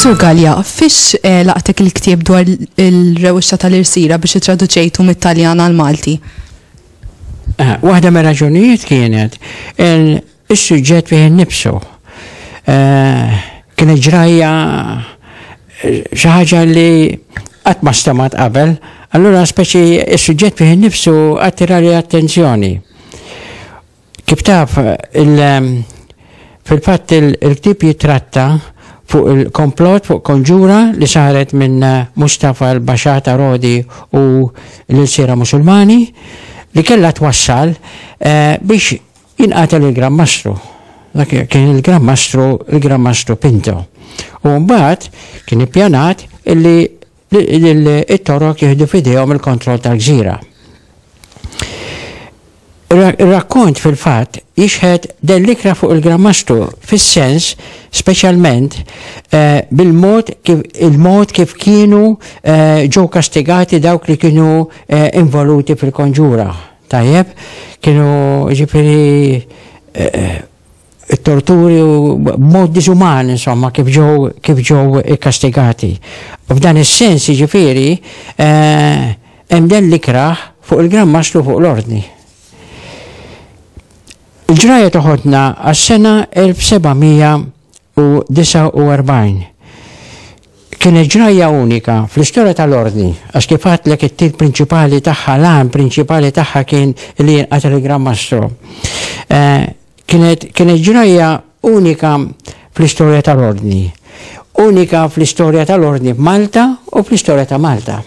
Sur Gallia, fiex eh, laqtek il-ktieb dwar il-rewxa tal-irsira biex traduċejtu mit-Taljan għal-Malti? Eh, waħda me raġunijiet kienet Is-suġġett fih innifsu kienet ġrajja xi ħaġa li qatt ma stmat qabel, allura speċi is-suġġett fih innifsu attirali attenzjoni. Kif taf fil-fatt il-ktieb jitratta fuq il-komplott fuq konġura li saret minn Mustafa l-Baxata Rodi u l-Ilsira Musulmani li kellha twassal biex Jinqatel il-Gran Mastru. Dak kien il-Gran Mastru, il-Gran Mastru Pinto. U mbagħad kien ippjanat illi it-Torok jieħdu f'idejhom il-kontroll tal-gżira. Ir-rakkont fil-fatt jixħed dan l-ikra fuq il-Gran Mastru fis-sens speċjalment eh, bil-mod kif il-mod kif kienu eh, ġew kastigati dawk li kienu eh, involuti fil-konġura. Tajjeb, kienu ġifieri torturi u b'mod diżuman insomma kif ġew kif ġew ikkastigati. F'dan is-sens jiġifieri hemm dan l-ikrah fuq il-Gran Mastru fuq l-Ordni. Il-ġrajja toħodna għas-sena 1749. Kienet ġrajja unika fl-istorja tal-Ordni, għax kif għedtlek it-til prinċipali tagħha, l-għan prinċipali tagħha kien li jinqatel il-Gran Mastru. Kienet kienet ġrajja unika fl-istorja tal-Ordni. Unika fl-istorja tal-Ordni f'Malta u fl-istorja ta' Malta.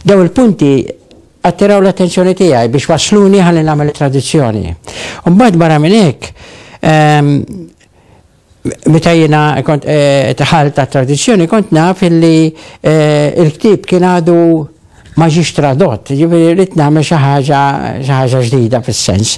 Daw il-punti attiraw l-attenzjoni tiegħi biex wasluni ħalli nagħmel it-tradizzjoni. Mbagħad barra minn hekk, Meta jiena kont tħal ta' tradizzjoni kont naf illi l-ktieb kien għadu ma ġiex tradott, ġifieri rrid nagħmel xi ħaġa xi ħaġa ġdida fis-sens.